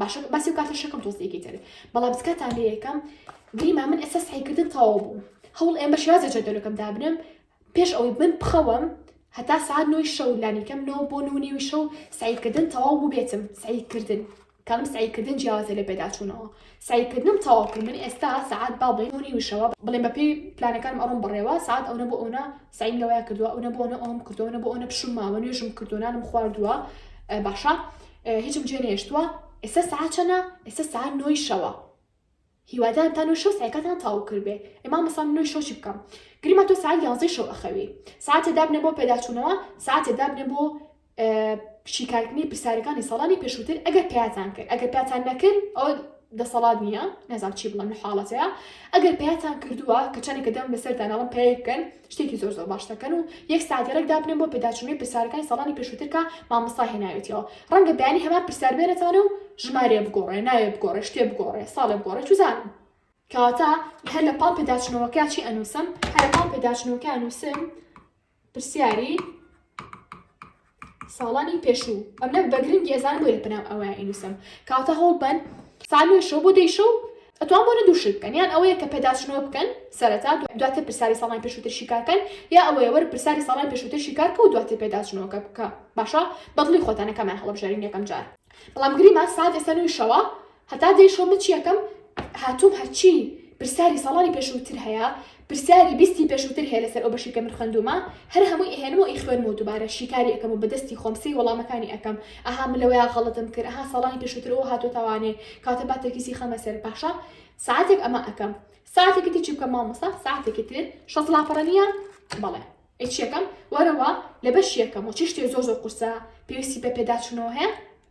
باشە باسی و کارتە شەکەم تۆز یەکی تر بەڵام سکاتان لێ یەکەم گریما من ئێستا سعیکردن تەواو بوو هەوڵ ئێم بە شێوازە جەدەلەکەم دابنم پێش ئەوەی من بخەوم هەتا سعات نوی شەو لانیکەم نەوە بۆ نونیوی شەو سعیکردن تەواو بوو بێتم سعیکردن کەم سعیکردن جیاوازە لە پێداچوونەوە سعیکردنم تەواو کرد من ئێستا سعات با بڵێ نونی وشەوە بڵێن بە پێی پلانەکانم ئەڕۆم بڕێوە سعات ئەوە بۆ ئەوە سعیم لەوەیە کردووە ئەوە بۆنە ئەوم کردوەە بۆ ئەوە پشمماوە نوێژم کردوانم خواردووە باشە هیچم جێ نەهێشتووە ئێستا سەعات چەنە ئێستا سەعات نۆی شەوە هیوادارم تا نۆی شەو سعیکاتان تاو کردێ ئێما مەسان نۆی شەو چی بکەم گریما تۆ سعات یانزەی شەو ئەخەوی ساعتێ دابنێ بۆ پێداچوونەوە ساعتێ دابنێ بۆ شیکارکردنی پرسیارەکانی ساڵانی پێشووتر ئەگەر پیاتان کرد ئەگەر پیاتان نەکرد ئەو دەسەڵات نییە نەزان چی بڵم لە حاڵەتەیە ئەگەر پیاتان کردووە کە چەندێکە دەم لەسەر داناڵم پێ بکەن شتێکی زۆر زۆر باش دەکەن و یەک ساتی ڕێک دابنێن بۆ پێداچوونەوەی پرسیارەکانی ساڵانی پێشووتر کە مامۆستا هێناوێتیەوە ڕەنگە بەیانی هەمان پرسیار بێنێتانە و ژمارەیە بگۆڕێ ناوێ بگۆڕێ شتێ بگۆڕێ ساڵێ بگۆڕێ چوزانم کەواتە هەر لە پاڵ پێداچنەوەکە چی ئەنووسم هەر لە پاڵ پێداچنەوەکە ئەنووسم پرسیاری ساڵانی پێشوو ئەمنە بەگرنگی ئەزان بۆ لە پناو ئەوە ئینوسم کاتە هەوڵ بەن سامی شەو بۆ دەیشە و ئەتوان بۆ لە دووشت بکەن یان ئەوەیە کە پێداچنەوە بکەن سەرەتا دواتر پرسیاری ساڵان پێشووتر شیکارکەن یا ئەوەیە وەر پرسیاری ساڵان پێشووتر شیکارکە و دواتر پێداچنەوەکە بکە باشە بەدڵی خۆتانەکەمان هەڵبژێرین یەکەم جار بەڵام گریمان ساعت ئێستا نوێی شەوە هەتا دەی شۆ من چیەکەم هاتوم هەرچی پرسیاری ساڵانی پێشوتر هەیە پرسیاری بیستی پێشوتر هەیە لەسەر ئەو بەشی کە من خوێندومە هەر هەمووی ئەهێنمەوە ئی خوێنمەوە دوبارە شیکاری ئەکەم و بەدەستی خۆم سەی وەڵامەکانی ئەکەم ئەها من لەوەیا غەڵەتم کرد ئەها ساڵانی پێشوتر ئەوە هاتۆتەوانێ کاتە با تەرکیزی خەمە سەر باشە ساعتێک ئەمە ئەکەم ساعتێکی تر چی بکەم مامۆستا ساعتێکی تر شەست لاپەڕە نییە بەڵێ ئەی چیەکەم وەرەوە لە بەش یەکەم و چی شتێ زۆر زۆر قورسە پێویستی بە پێداچوونەوە هەیە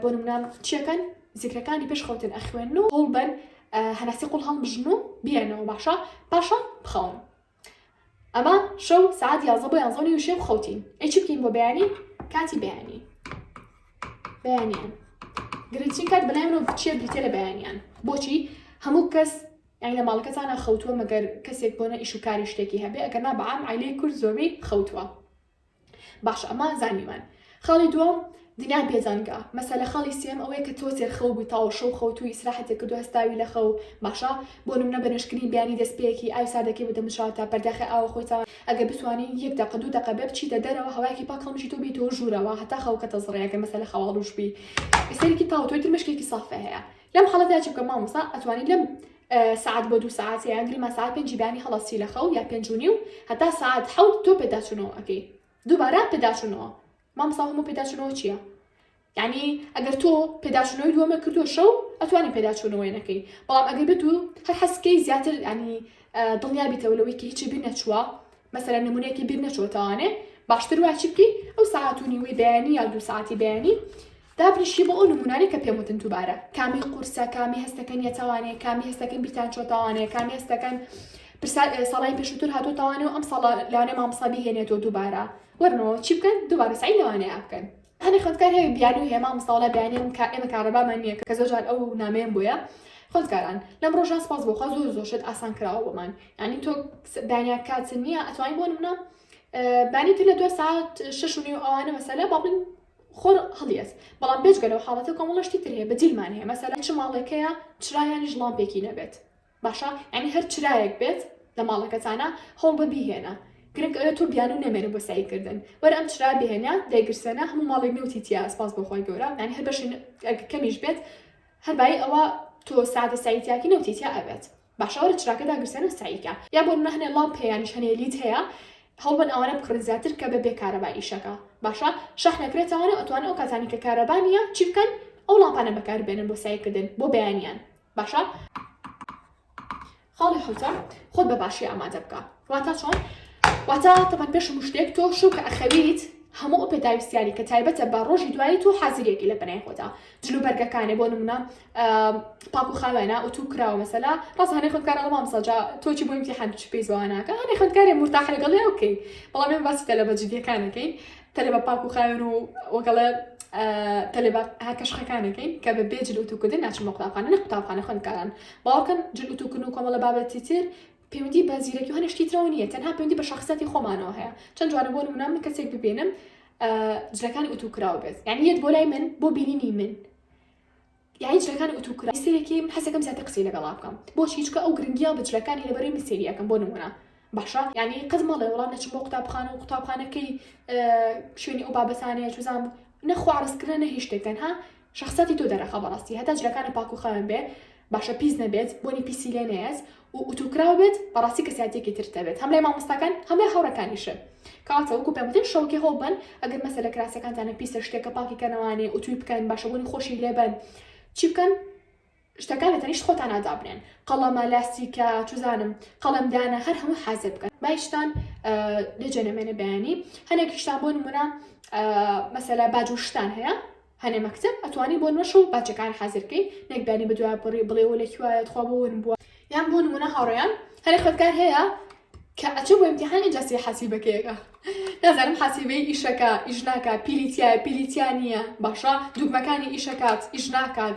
بۆ نمونە چیەکەن زیکرەکانی پێش خەوتن ئەخوێن و هەوڵ بەن هەناسی قوڵ هەڵبژن و بیانەوە باشە پاشە بخەون ئەمە شەو سعات یازە بۆ یانزۆنی وشێ خەوتین ئەی چ بکەین بۆ بەیانی کاتی بەیانی بەیانیان گرنگترین کات بەلای منەوە بچێ بریتە لە بەیانیان بۆچی هەموو کەس یان لە ماڵەکەتانە خەوتووە مەگەر کەسێک بۆنە ئیش و کاری شتێکی هەبێ ئەگەر نا بەعام عیلەی کورد زۆربەی خەوتووە باشە ئەمان زانیمان خاڵی دووەم دینا بێزانکە مەسەلە خاڵی سێم ئەوەیە کە تۆ تێرخەو بووی تاوە شەو خەوتوی ئیسراحەتێک کردو هەستاوی لە خەو باشە بۆ نمونە بە نوێژکردنی بەیانی دەستپێکی ئاوی ساردەکەی بدەمشاوە تا پەرداخی ئاوە خۆی تاوە ئەگەر بتوانی یەک دەقە دوو دەقە بێ بچیتە دەرەوە هەوایەکی پاک هەڵمژیتەوە بێیتەوە ژوورەوە هەتا خەوەکە دەزڕێ ئەگەر مەسەلە خەواڵووش بووی ئیسەریکی تاوە تۆی تر مشکێکی سافێ هەیە لەم حاڵەتدا چ بکەم مامۆستا ئەتوانی لەم سعات بۆ دوو سعات یان گرما سعات پێنجی بانی هەڵاستی لە خەو یا پێنج و نیو هەتا سعات حەوت تۆ پێداچوونەوە ئەەکەی دووبارە پێداچوونەوە مامسا هەموو پێداچوونەوە چییە؟ یعنی ئەگەر تۆ پێداچوونەوەی دووەمە کردو شەو ئەتوانی پێداچوونەوەی نەکەی بەڵام ئەگەر بێت و هەر حەسکەی زیاتر ینی دڵنیا بیتەوە لەوەی کە هیچی بیر نەچووە مەسەر نمونونێکی بیر نەچۆتەوانێ باشتر واچی بکەی ئەو ساعت و نیوەی بەیانی یا دوو ساعتی بەیانی دابنیشی بۆ ئەو نموونانەی کە پێم وتن دووبارە کامی قورسە کامی هەستەکەن یەتەوانەیە کامی هەستەکەن بیرتان چۆ تاوانەیە کامی هەستەکەن پرسا ساڵی پێشووتر هاتۆ تاوانەوە ئەم ساڵ لەوانێ مامۆستا بهێنێتەوە دووبارە وەرنەوە چی بکەن دووبارە سعی لەوانەیە بکەن هەنێ خوێندکار هەیە بیانی و هێما مستاڵە بیانی ئەم کار ئێمە کارەبامان نییە کە زۆر جار ئەو نامەیەم بۆیە خوێندکاران لەم ڕۆژان سپاس بۆخوا زۆر زۆر شت ئاسان کراوە بۆمان ینی تۆ دانیا کات نییە ئەتوانین بۆ منە بانی تر لە دو ساعت شش و نیو ئەوانە مەسەلە بابن خۆر هەڵیەس بەڵام بێجگە لەو حاڵەتە کۆمەڵە شتی تر هەیە بە جیلمان هەیە مەسەلەن چ ماڵێکەیە چرایانیش ڵامپێکی نەبێت باشە یانی هەر چرایەک بێت لە ماڵەکەتانا هەوڵ بە بیهێنە گرنگ ئەوێ تۆ بیانوو نەمێنە بۆ سەعی کردن وەرە ئەم چرا بهێنە دایگرسێنە هەموو ماڵێک نەوتی تیایە سپاس بۆ خۆی گەورە یانی هەر بەشی کەمیش بێت هەر بایی ئەوە تۆ سادە سەعی تیاکی نەوتی تیا ئەبێت باشە وەرە چراکە داگرسێنە سەعی کە یا بۆ نمونە هەنێ ڵامپ هەیە یانیش هەنێ لید هەیە هەوڵبەن ئەوانە بکڕن زیاتر کە بەبێ کارەبا ئیشەکە باشە شەحنە کرێتەوانە و ئەتوانن ئەو کاتانی کە کارەبا نییە چی بکەن ئەو ڵامپانە بەکار بێنن بۆ سەعیکردن بۆ بەیانیان باشە خاڵی حوتە خۆت بە باشی ئامادە بکە واتە چۆن واتە تەمان پێش مشتێک تۆ شو کە ئەخەویت هەموو ئەو پێداویستیانی کە تایبەتە بە ڕۆژی دوایی تۆ حازرێکی لە بنای خۆدا جلوبەرگەکانێ بۆ نمونە پاکو خاوێنە ئوتو کراوە مەسەلا ڕاست هەنێ خوندکارە لە مامسا جا تۆچی بۆ امتحان چ پێی زواناکە هەنێ خوندکارێ مرتاح لەگەڵی ئەو بکەین بەڵام من باسی تەلەبە جدیەکانەکەین تەلەبە پاکو خاوێن و وەگەڵە تەلەبە هەکە شخەکانەکەین کە بە بێ جل وتوکردن ناچن بە قوتابخانە نە قوتابخانە خوندکاران باوەکەن جل وتوکن و کۆمەڵە بابەتی تر پەیوەندی بە زیرەکی و هەنشتی ترەوە نیە تەنها پەیوەندی بە شخصەتی خۆمانەوە هەیە چەند جوانە بۆ نمونە من کەسێک ببینم جلەکانی ئوتوکراو بێت یعنی یەت بۆ لای من بۆ بینینی من یاعی جلەکانم ئەتو کرا سەرەکی حەز ئەکەم زیاتر قسەی لەگەڵا بکەم بۆچی چکە ئەو گرنگیا بە جلەکانی لە بەرەی من سێری ئەکەم بۆ نمونە باشە یاعنی قەت مەڵێ وەڵا نەچم بۆ قوتابخانە و قوتابخانە کەی شوێنی ئەو بابەتانەیە چوزام نە خۆ عەڕەز کردنە نە هیچ شتێک تەنها شەخسیاتی تۆ دەرەخا بەڕاستی هەتا جلەکانم پاک و خاوێن بێ باشە پیس نەبێت بۆنی پیسی لێ نەیەت و ئوتوکراو بێت بەڕاستی کەساتێکی تر دەبێت هەم لای مامۆستاکان هەم لای هاوڕەکانیشە کەواتە وەکو پێم وتن شەوەکی هەوڵ بەن ئەگەر مەسەلە کراسەکانتانە پیسە شتێکە پاکی کەنەوانێ ئوتوی بکەن باشە بۆنی خۆشی لێبەن چی بکەن شتەکان لە تەنیشت خۆتانا دابنێن قەڵەمە لاستیکە چزانم قەڵمدانە هەر هەموو حازر بکەن باشتان لەجێ نەمێنە بەیانی هەنێکیشتان بۆ نمونە مەسەلا باجوشتان هەیە هەنێ مەکتەب ئەتوانی بۆ نۆش و باجەکان حازر کەی نەک دانی بەدوایە بڕی بڵێ وە لەکوایە تخوا بۆ ون بوە یان بۆ نمونە هاوڕێیان هەنێ خوێندکار هەیە کە ئەچێ بۆ ئیمتیحان ئینجا سێ حەسیبەکەیەکە نازانم حەسیبەی ئیشەکە ئیش ناکات پیری تیایە پیری تیا نییە باشە دوگمەکانی ئیشەکات ئیش ناکات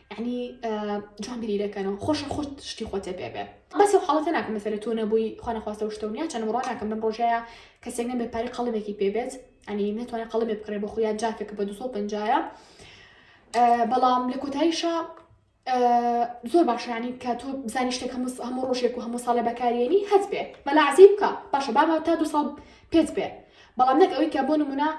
یعنی جوان بیری دەکەنەوە خۆشە خۆت شتی خۆتێ پێ بێ بەس و حڵەتە ناکەم مەسەر تۆ نەبووی خوانەخواستە و شتەونیا چەند ڕۆ ناکەم بم ڕۆژەیە کەسێک نەبێ پاری قەڵمێکی پێ بێت ئەنی نتوانێت قەڵمێ بکڕێ بە خۆیان جافێکە بە 250ە بەڵام لە کۆتاییشە زۆر باشیانی کە تۆ بزانانی شتێک هەموو هەموو ڕۆژێک و هەموو ساڵێ بەکارێنی هەست بێ بەلاعزی بکە باشە بابە تا دو ساڵ پێت بێ بەڵام نەک ئەوەی کە بۆ نمونە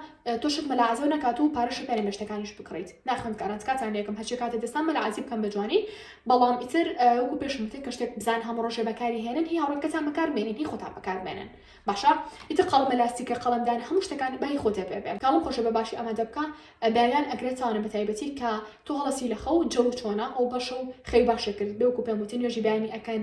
تۆ شت مەلا عەزێو نەکات و پارە شەپێنی بەشتەکانیش بکڕیت ناخوێندکاران تکاتان لێکم هەرچی کاتە دەستان مەلا عەزی بکەم بە جوانی بەڵام ئیتر وەکو پێشم وتێ کە شتێک بزان هەموو ڕۆژێ بەکاری هێنن هی هاوڕێکەتان بەکارمێنن هی خۆتان بەکارمێنن باشە ئیتر قەڵەمە لاستیکە قەڵەمدان هەموو شتەکان بای خۆتێ پێ بێ کاڵم خۆشە بە باشی ئامادە بکە بەیان ئەگرێتانە بە تایبەتی کە تۆ هەڵەسی لە خەو جەو چۆنە ئەو بەشە و خەوی باشێ کرد بێ وەکو پێم وتن نوێژی بەیانی ئەکەن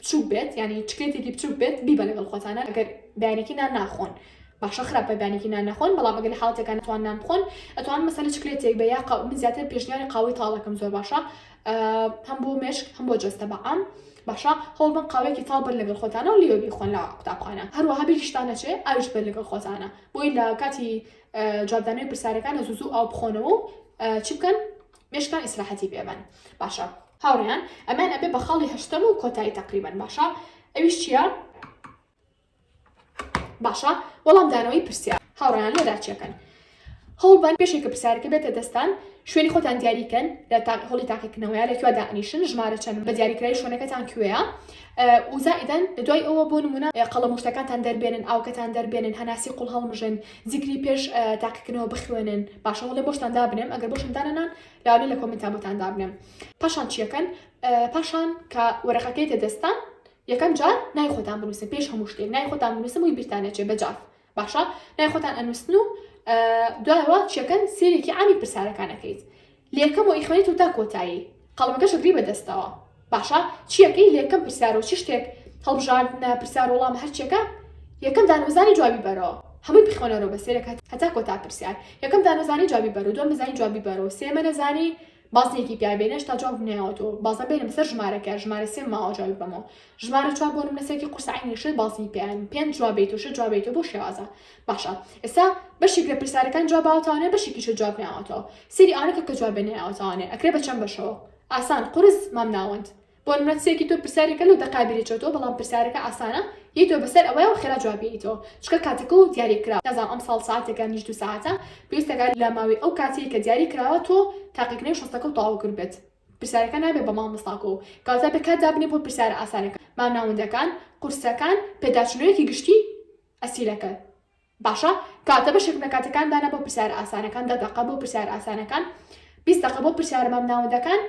بچوک بێت یانی چکلێتێکی بچوک بێت بیبە لەگەڵ خۆتانە ئەگەر بەیانێکی نان ناخۆن باشە خراپە بەیانێکی نان نەخۆن بەڵام ئەگەر لە حاڵەتەکان نتوان نان بخۆن ئەتوان مەسەلە چکلێتێک بە یا قاو من زیاتر پێشنیاری قاوەی تاڵەکەم زۆر باشە هەم بۆ مێشک هەم بۆ جەستە بەعام باشە هەوڵ بن قاوێکی تاڵ بەر لەگەڵ خۆتانە و لێوە بیخۆن لە قوتابخانە هەروەها بیریشتان نەچێ ئاویش بەر لەگەڵ خۆتانە بۆی لە کاتی جوابدانەوەی پرسیارەکانە زوزو ئاو بخۆنەوە و چی بکەن مێشکان ئیسراحەتی پێ بەن باشە. هاوڕێیان ئەمەیان ئەبێ بە خاڵی هەشتەم و کۆتایی تەقریبەن باشە ئەویش چییە؟ باشە وەڵام دانەوەی پرسیار هاوڕێیان لێدا چیەکەن هەوڵبەن پێشێکە پرسیارەکە بێتە دەستان شوێنی خۆتان دیاریکەن لە هەڵی تاقیکردنەوەیە لە کوێدا ئەنیشن ژمارە چەند بە دیاریکرای شوێنەکەتان کوێە وزائیدەن دوای ئەوە بۆ نمونە قەڵە مشتەکانتان دەربێنن ئاوکەتان دەربێنن هەناسی قوڵ هەڵمژن زیکری پێش تاقیکردنەوە بخوێنن باشە وڵێ بۆشتان دابنێم ئەگەر بۆشم دانەنان لاولێ لە کۆمنتا بۆتان دابنێم پاشان چیەکەن پاشان کە وەرەقەکەی تە دەستان یەکەم جار نای خۆتان بنووسن پێش هەموو شتێک نای خۆتان بنووسم وی بیرتانەچێ بەجاف باشە نای خۆتان ئەنووسن و دوایەوە چیەکەن سێرێکی ئامی پرسیارەکانەکەیت لەیەکەم و ئیخوێنی تۆ تا کۆتایی قەڵەمەکەش ئەگری بە دەستەوە باشە چیەکەی لەیەکەم پرسیارو چ شتێک هەڵبژاردنە پرسیار وەڵامە هەرچیەکە یەکەم دانوەزانی جوابی بەرۆ هەمووی بخوێنەرۆ بە سەیرێک هەتا کۆتا پرسیار یەکەم دانوەزانی جوابی بەرۆ دوەم نەزانی جوابی بەرۆ سێمە نەزانی بازنەیەکی پیاوێنە هێشتا جوابم نایەوەتۆ بازنە بێنە بەسەر ژمارەکە ژمارە سێم ماوە جوابی بەمۆ ژمارە چوار بۆ نمونە سێتی قورسە عەینی شێ بازنی پێیان پێنج جواب بیت و شەش جواب بیت و بۆ شێوازە باشە ئێستا بەشێک لە پرسیارەکان جواب باوەتانێ بەشێکیش جواب ناوەتەوە سێری ئەوانە کە کە جواب ناوەتانێ ئەکرێ بە چەند بەشەوە ئاسان قورس مام ناوەند بۆ نمونە سێکی تۆ پرسیارێکە لەو دەقابیری چۆتەوە بەڵام پرسیارەکە ئاسانە یەی تۆ بەسەر ئەوەیە و خێرا جواب بیتەوە چکە کاتەکە و دیاری کرا نازام ئەم ساڵ ساعتێکە نیش دو ساعتە پێویستەکە لە ماوەی ئەو کاتەیە کە دیاری کراوە تۆ تاقیکردنەوەی شەستەکە و تەواو کرد بێت پرسیارەکە نابێت بە مامۆستاکۆ و کاتە بێت کات دابنێت بۆ پرسیارە ئاسانەکان با ناوەندەکان قورسەکان پێداچونەوەیەکی گشتی ئەسیلەکە باشە کاتە بەشێک لە کاتەکان دانا بۆ پرسیارە ئاسانەکان دە دەقە بۆ پرسیارە ئاسانەکان بیست دەقە بۆ پرسیارە مام ناوەندەکان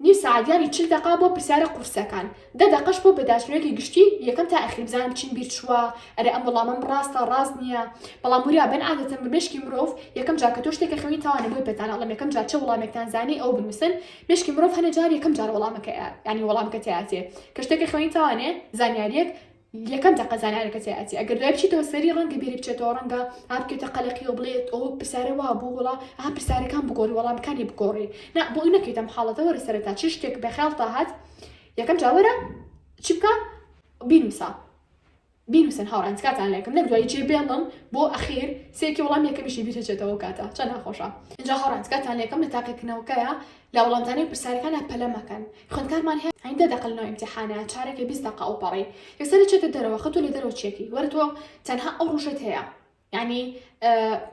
نیو سعادیانی چل دەقا بۆ پرسیارە قورسەکان دە دەقەش بۆ بەداچونەوەکی گشتی یەکەم تا ئەخیر بزانم چیم بیر چووە ئەرێ ئەم وەڵامەم ڕاستە ڕاست نییە بەڵام وریا بن عادەتەن بە مێشکی مرۆڤ یەکەم جار کە تۆ شتێکە خوێنی تاوانە بۆی پێتان ئەڵێم یەکەم جار چ وەڵامێکتان زانی ئەو بنووسن مێشکی مرۆڤ هەنێ جار یەکەم جار وەڵامەکەیە یانی وەڵامەکە تیاتێ کە شتێکە خوێنی تاوانێ زانیاریەک یەکەم تەقە زانیارە کەسێ ئەچێ ئەگەر دوای بچیتەوە سەری ڕەنگە بیری بچێتەوە ڕەنگە ها بکێتە قەلەقی و بڵێت ئەو پرسیارە وا بوو وڵا ها پرسیارەکان بگۆڕی وەڵامەکانی بگۆڕی نا بۆ ئەوی نەکەیتە ئەم حاڵەتە وەرە سەرەتا چ شتێک بە خەیاڵتا هات یەکەم جا وەرە چی بکە بینووسە بینووسن هاوڕان تکاتان لەکەم نەک دوای جێ بێڵم بۆ ئەخیر سێکی وەڵام یەکەمیشی بیرچێتەوە کاتە چەند ناخۆشە اینجا هاوڕان تکاتان لەکەم لە تاقیکردنەوەکەیە لە وەڵامدانەوەی پرسیارەکانا پەلە مەکەن خوێندکارمان هەیە ئەین دە دەقە لەناو ئیمتیحانە چارەکێ بیست دەقە ئەوپەڕی یەسەری چێتە دەرەوە خەتوو لە دەرەوە چیەکی وەرە تۆ تەنها ئەو ڕۆژەت هەیە یعنی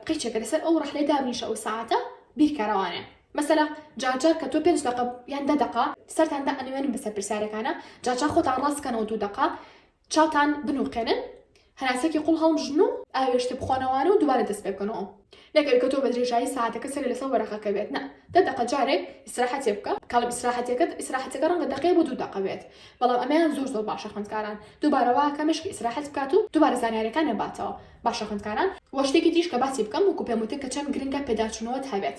قیچێکە لەسەر ئەو ڕەحلەی دابنیشە ئەو ساعتە بیرکەرەوانێ مەسەلا جارجار کە تۆ پێنج دەقە یان دە دەقە سەرتان دا ئەنوێنن بەسەر پرسیارەکانە جارجار خۆتان ڕاستکەنەوە دوو دەقە چاتان بنوقێنن هەناسەکی قوڵ هەڵمژن و ئاوێشتە بخۆنەوانە و دوبارە دەست پێ بکەنەوە نەگەر کە تۆ بە درێژایی ساتەکە سەرێ لەسەر وەرەقەکە بێت نا دە دەقە جارێک ئیسراحەتێ بکە کاڵم ئیسراحەتەکەت ئیسراحەتەکە ڕەنگە دەقەیە بۆ دوو دەقە بێت بەڵام ئەمەیان زۆر زۆر باشە خوێندکاران دووبارە واکە مشک ئیسراحەت بکات و دووبارە زانیارەکان نەباتەوە باشە خوێندکاران وە شتێکی دیش کە باسی بکەم وەکو پێم وتن کە چەند گرنگە پێداچوونەوەت هەبێت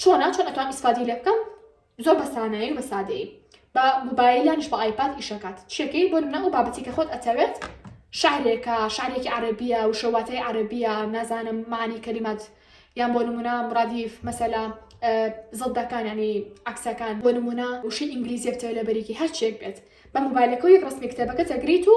چۆنە چۆن ئەتوان ئیسفادەی لێ بکەم زۆر بە سانایی و بە سادەیی بە موبایلانش بە ئایپاد ئیشەکات شێکەی بۆ منە ئەو بابەتی کە خۆت ئەتەوێت شعرێکە شعرێکی عربیە و شەواتای عربیە نازانم معنی کەلیمات یان بۆ نمونە ڕادیف مەسەلا زڵدەکان ینی عکسەکان بۆ نمونە وشی ئینگلیزیە بتەوە لە بەریکی هەرچێک بێت بە موبایلەکەی ڕستمی کتێبەکە تەگریت و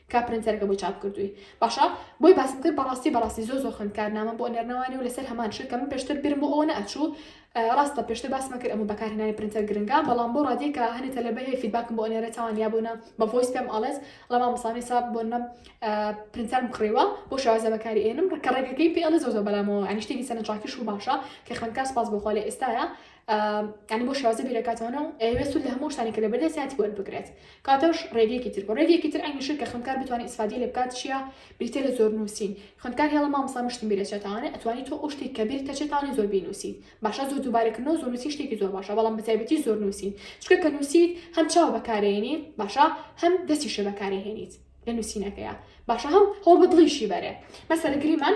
کا پرنتەرەکە بۆی چاپ کردووی. باشە بۆی باسم کرد بەڕاستی بەڕاستی زۆر زۆر خوێندکار نامەم بۆ ئەنێرنەوانێ و لەسەر هەمان شت کە من پێشتر بیرم بۆ ئەوە نەئەچوو ڕاستە پێشتر باسمە کرد ئەمە بەکارهێنانی پرنتەر گرنگە بەڵام بۆ ڕادی کە هەنێ تەلەبە هەیە فیدباکم بۆ ئەنێرێتەوان یا بۆ نا بە ڤۆیس پێم ئەڵێت ڵە مامۆستا میسا بۆ نم پرنتەرم کڕیوە بۆ شێوازە بەکاری ئێنم ڕکە ڕێگەکەی پێ ئەڵێ زۆر زۆر بەلامەوە یانی شتێکی سەرنجڕاکیش و باشە کە خوێندکار سپاس بۆ خوا لە ئێستایە یعنی بۆ شازە بیرەکاتانە و ئەوێ سود لە هەموو شتانی کە لە بەردە سیاتی وەر بگرێت کاتەش ڕێگەیەکی تر بۆ ڕێگەیەکی تر ئەنگشت کە خوندکار بتوانانی ئیسفادی لە بکات چیە بریتە لە زۆر نووسین خوندکار هێڵە مامسا مشتم بیرەچێتانە ئەتوانی تۆ ئەو شتێک کە بیر تەچێتانە زۆر بینوسی باشە زۆر دووبارەکردنەوە زۆر نووسی شتێکی زۆر باشە بەڵام بە تایبەتی زۆر نووسین چکە کە نووسیت هەم چاو بەکارێنی باشە هەم دەستی شە بەکارێهێنیت لە نووسینەکەیە باشە هەم هەوڵ بە دڵیشی بەرێ مەسەرگریمان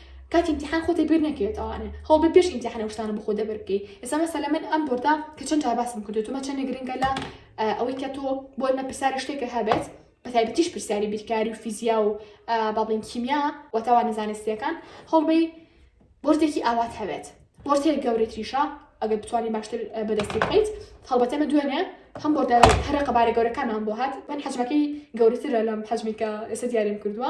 کاتی ئیمتیحان خۆتی بیر نەکەوێت ئەوانە هەوڵبە پێش ئیمتیحان ئەو شتانە بخۆ دەبر بکەی ئێستا مەسەلە من ئەم بۆردە کە چەند جار باسم کردو تۆمە چەندە گرنگە لە ئەوەی کە تۆ بۆ ئێمە پرسیاری شتێکە هەبێت بە تایبەتیش پرسیاری بیرکاری و فیزیا و با بڵین کیمیا و تاوانە زانستیەکان هەوڵبەی بۆردێکی ئاوات هەبێت بۆرد هەیە گەورەتریشە ئەگەر بتوانانی باشتر بەدەستی بکەیت هەڵبەتەمە دوێنێ هەم بۆردە هەرە قەبارە گەورەکانمان بۆ هات من حەجمەکەی گەورەترە لەم حەجمی کە ئێستا دیاریم کردووە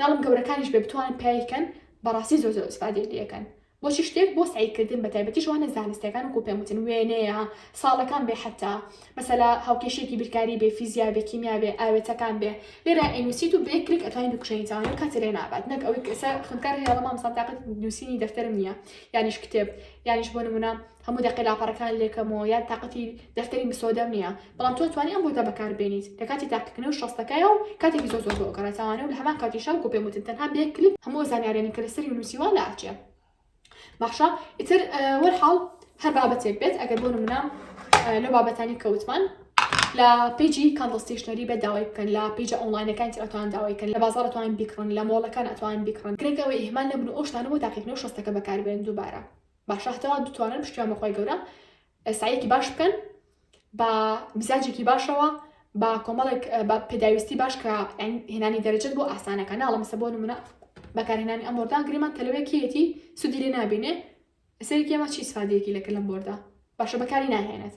ناڵێم گەورەکانیش بێ بتوانن پیای کەن بەڕاستی زۆر زۆر ئیسفادەی لێ ئەکەن بۆچی شتێک بۆ سەعی کردن بەتایبەتی شوانە زانستیەکان وەکو پێم وتن وێنەیە ساڵەکان بێ حەتا مەسەلا هاوکێشێکی بیرکاری بێ فیزیا بێ کیمیا بێ ئاوێتەکان بێ لێرا ئەینوسیت و بەیەک کلیک ئەتوانی بکشێنیتەوە لەو کاتێ لێ نابات نەک ئەوەی کەسە خوێندکار هەیە بەڵام مامۆستا تاقەت نووسینی دەفتەرم نییە یانیش کتێب یانیش بۆ نموونە هەموو دەقێ لاپەڕەکان لێکەم و یان تاقەتی دەفتەری مسۆدەم نییە، بەڵام تۆ توانی ئەم بۆتە بەکاربێنیت لە کاتی تاقیکردنەوە شەستەکەیا و کاتێکی زۆر زۆر بۆ ئەگەڕێ تاوانە و لە هەمان کاتیشا وەکو پێم وتن تەنها بە یەک کلیک هەموو ئەو زانیاریانەی کە لەسەری نووسیوە لە ئەچێ باشە ئیتر وەرحاڵ هەر بابەتێک بێت ئەگەر بۆ نمونە لەو بابەتانی کەوتمان لە پیجی کاندڵ ستیشنەری بێ داوای بکەن لە پیجە ئۆنلاینەکان ئەتوان داوای کەن لە بازار ئەتوان بیکڕن لە مۆڵەکان ئەتوان بیکڕن گرنگەوە ئیهمال نەبن و ئەو شتانە بۆ تاقیکردنەوە شەستەکە بەکاربێن دووبارە باشە هەتاوا دتوانن پشتیان بەخوای گەورە سعیەکی باش بکەن بە مزاجێکی باشەوە بە کۆمەڵێک بە پێداویستی باش کە هێنانی دەرەجەت بۆ ئاسانەکە ناڵم سە بۆ نمونە بەکارهێنانی ئەم بۆردان گریمان تەلوێکیەتی سودی لێ نابینێ سەرێکی ئەمە چی سفادەیەکی لەکە لەم بۆردا باشە بەکاری ناهێنێت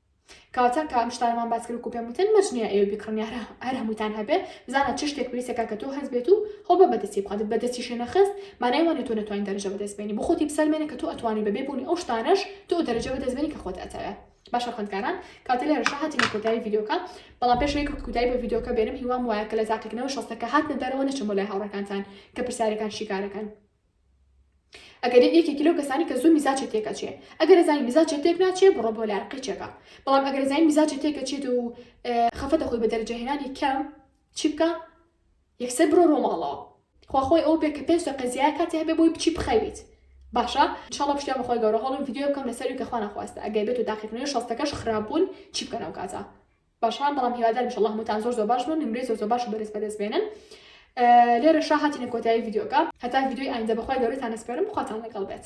کاتە کە ئەم شتانمان باس کرد و پێم وتن مەرج نییە ئێوە بیکڕن یا هەر هەمووتان هەبێ بزانە چ شتێک پێویستە کاکە تۆ هەست بێت و خۆ بە بەدەستی بخوات بەدەستیشی نەخست مانای وانە تۆ نەتوانین دەرەجە بەدەست بێنی بۆ خۆتی بسەلمێنە کە تۆ ئەتوانی بەبێ بوونی ئەو شتانەش تۆ ئەو دەرەجە بەدەست بێنی کە خۆت ئەتەوێ باشە خوێندکاران کاتە لێرەشە هاتینە کۆتایی ڤیدیۆکە بەڵام پێش ئەوەی کە کودای بە ڤیدیۆکە بێنم هیوام وایە کە لە تاقیکردنەوە شەستەکە هاتنە دەرەوە نەچم بۆ لای هاوڕێکانتان کە پرسیارەکان شیکارەکەن ئەگەر یەکێکی لەو کەسانی کە زوو میزاجی تێکەچێ ئەگەر زای میزاجێ تێک ناچێ بڕۆ بۆ لای قیچەکە بەڵام ئەگەر زای میزاجی تێکەچێت و خەفەتە خۆی بە دەرجەهێنانی کەم چی بکە یەکسەر بڕۆ ڕۆماڵەوە خواخۆی ئەو بێ کە پێ سە قەزیای کاتی هەبێ بۆی بچی بخەویت باشە شڵە پشتیا بەخوای گەورە هەڵم یددیو بکەم لەسەر کە خوانە خواستە ئەگەر بێت و داخیکننی شەستەکەش خراپبوون چی بکەنەوە کاتە باشان بەڵام هیوادارم ان شاء اللە هەمووتان زۆر زۆر باش بن نمرەی زۆر زۆر باش و بەرز بەدەست بێنن لێرەشا هاتینە کۆتایی ڤیدیۆکە هەتا ڤیدیۆی ئایندە بەخوای گەورەتان ئەسپێرم خواتان لەگەڵ بێت